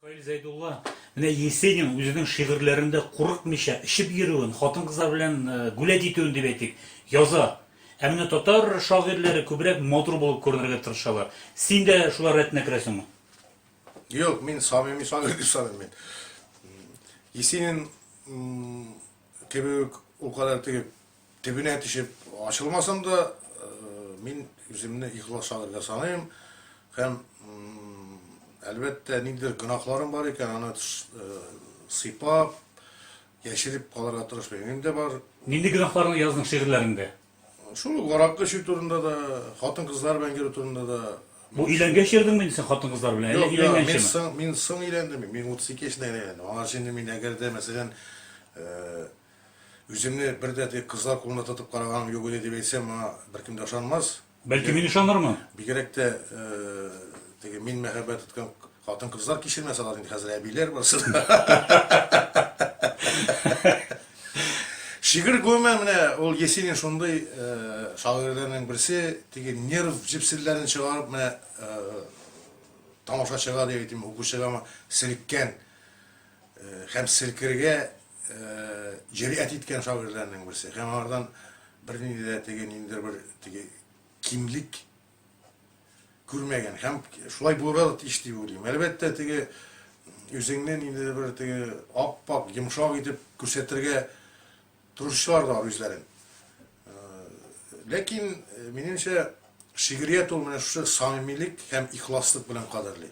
Фаил Зәйдулла менә Есенин үзенең шигырьләрендә курыкмыйча, эчеп йөрүен, хатын-кызлар белән гүләт итүен дип әйтик, яза. Ә менә татар шагыйрьләре күбрәк матур булып күренергә тырышалар. Син дә шулар рәтенә керәсеңме? Юк, мин самими шагыйрь дип саныйм мин. Есенин кебек үк ул кадәр теге Төбенә төшеп ачылмасам да, мин үземне ихлас шагыйрь дип саныйм һәм, әлбәттә, ниндидер гөнаһларым бар икән, аны сыйпап, яшереп калырга тырышмыйм. Минем дә бар. Нинди гөнаһларны яздың шигырьләреңдә? Шул ук аракы эчү турында да, хатын-кызлар белән йөрү турында да. Бу өйләнгәч йөрдеңме инде син хатын-кызлар белән, әллә өйләнгәнчеме? Юк, мин соң өйләндем. Мин 32 яшендә генә өйләндем. Аңарчы инде мин, әгәр дә, мәсәлән, Үземне бер дә теге кызлар кулында тотып караганым юк иде дип әйтсәм, моңа беркем дә ышанмас. Бәлки мин ышанырмын. Бигрәк тә теге мин мәхәббәт тоткан хатын-кызлар кичермәс алар инде хәзер әбиләр барсы да. Шигырь гомумән менә ул Есенин шундый шагыйрьләрнең берсе, теге нерв җепселләрен чыгарып менә тамашачыга дип әйтим, укучыга селккән һәм селкергә җөрьәт иткән шагыйрьләрнең берсе һәм аңардан бернинди дә теге ниндидер бер теге кимлек күрмәгән һәм шулай булырга да тиеш дип уйлыйм. Әлбәттә, теге үзеңне ниндидер бер теге ап-ак, йомшак итеп күрсәтергә тырышучылар да бар үзләрен. Ләкин, минемчә, шигърият ул менә шушы самимилек һәм ихласлык белән кадерли.